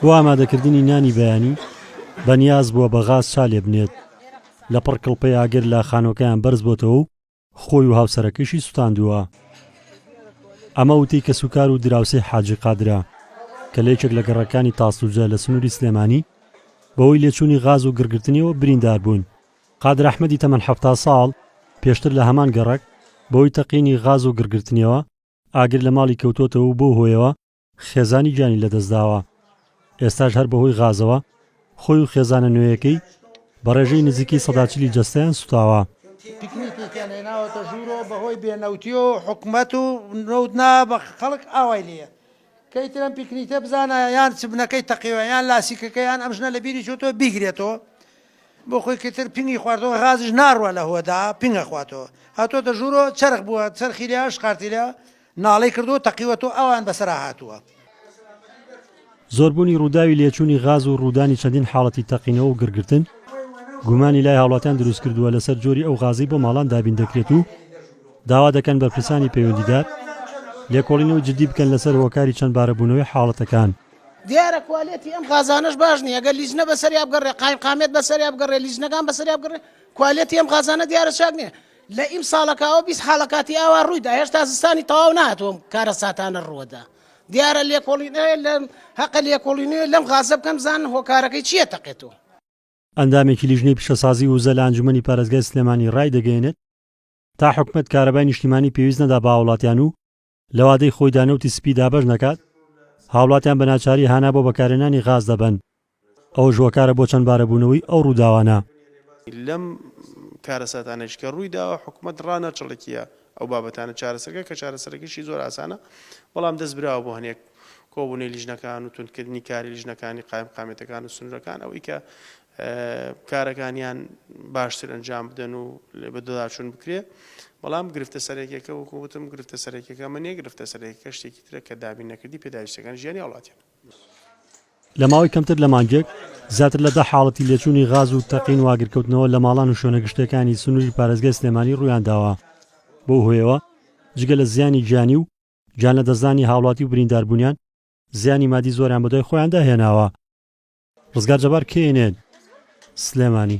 بۆ ئامادەکردنی نانی بەیانی بەنیاز بووە بە غاز چا لێ بنێت، لە پڕ کڵپەی ئاگر لە خانووەکەیان بەرز بۆتەوە و خۆی و هاوسەرەکەیشی سوتاندووە. ئەمە وتەی کەسوکار و دراوسێی حاجی قادرە، کە لە یەکێک لە گەڕەکانی تاسڵوجە لە سنووری سلێمانی بەهۆی لێچوونی غاز و گڕگرتنیەوە بریندار بوون. قادر ئەحمەدی تەمەن حەفتا ساڵ پێشتر لە هەمان گەڕەک بەهۆی تەقینی غاز و گڕگرتنیەوە ئاگر لە ماڵی کەوتۆتەوە و بەو هۆیەوە خێزانی گیانی لەدەستداوە، ئێستاش هەر بەهۆی غازەوە خۆی و خێزانە نوێیەکەی بە ڕێژەی نزیکەی سەدا چلی جەستەیان سوتاوە. تیکنیکێکیان هێناوەتە ژوورەوە بەهۆی بێ نەوتیەوە و حکومەت و نەوت نایە بە خەڵک ئاوای لێیە کەی ترەم پیکنیتە بزانایە یان چبنەکەی تەقیوە یان لاسیکەکە یان ئەم ژنە لە بیری چۆتەوە بیگرێتەوە بۆ خۆی کەتر پینگی خواردەوە غازش ناڕوە لە هۆدا پینگە خواتەوە هاتۆتە ژوورۆ چرخ بووە چرخی لە شقارتی لە ناڵی کردو تەقیوە تۆ ئەوان بەسرا هاتووە. زۆربوونی ڕووداوی لێچوونی غاز و ڕوودانی چەندین حاڵەتی تەقینەوە و گڕگرتن، گومانی لای هاوڵاتیان دروستکردووە لەسەر جۆری ئەو غازەی بۆ ماڵان دابین دەکرێت و، داوا دەکەن بەرپرسانی پەیوەندیدار لێکۆڵینەوەی جددی بکەن لەسەر هۆکاری چەندبارەبوونەوەی حاڵەتەکان. دیارە کوالێتی ئەم غازانەش باش نیە گەر لیجنە بەسەریا بگەڕێ قایمقامیەت بەسەریا بگەڕێ لیجنەکان بەسەریا بگەڕێ کوالێتی ئەم غازانە دیارە چاک نیە لە ئیمساڵەکەوە بیست حاڵە کاتی ئاوا ڕوویدا هێشتا زستانی تەواو ناتووم کارەساتانە ڕووەدا دیارە لێکۆڵینێ لە هەقە لێکۆڵینێ لەم غازە بکەم زان هۆکارەکەی چییە تەقێتەوە. ئەندامێکی لیژنەی پیشەسازی وزە لە ئەنجومەنی پارێزگای سلێمانی ڕایدەگەیەنێت، تا حکومەت کارەبای نیشتیمانی پێویست نەدا بە هاوڵاتیان و لە وادەی خۆیدا نەوتی سپی دابەش نەکات، هاوڵاتیان بە ناچاری هانا بۆ بەکارهێنانی غاز دەبەن، ئەوەش هۆکارە بۆ چەندبارەبوونەوەی ئەو ڕووداوانە. لەم کارەساتانەیش کە ڕوویداوە، حکومەت ڕانەچڵەکییە ئەو بابەتانە چارەسەرکە، کە چارەسەرەکەیشی زۆر ئاسانە، بەڵام دەست براوە بۆ هەنێک کۆبوونەوەی لیژنەکان و توندکردنی کاری لیژنەکانی قایمقامیەتەکان و سنوورەکان، ئەوەی کە کارەکانیان باشتر ئەنجام بدەن و لێ بەدەداچوون بکرێ بەڵام گرفتە سەرەکیەکە وەکوتم گرفتە سەرەکیەکە منێ گرفتە سەرەکە شتێکی ترە کە دابین نەکردی پێداویستەکان ژیانی هاوڵاتیان. لە ماوەی کەمتر لە مانگێک زیاتر لە دە حاڵەتی لێچوونی غاز و تەقین و ئاگرکەوتنەوە لە ماڵان و شوێنە گشتیەکانی سنووری پارێزگای سلێمانی ڕوویانداوە، بەو هۆیەوە جگە لە زیانی گیانی و گیانلەدەستدانی هاوڵاتی و برینداربوونیان، زیانی مادی زۆریان بەدوای خۆیاندا هێناوە. ڕزگار جەبار کێینێت سلێمانی.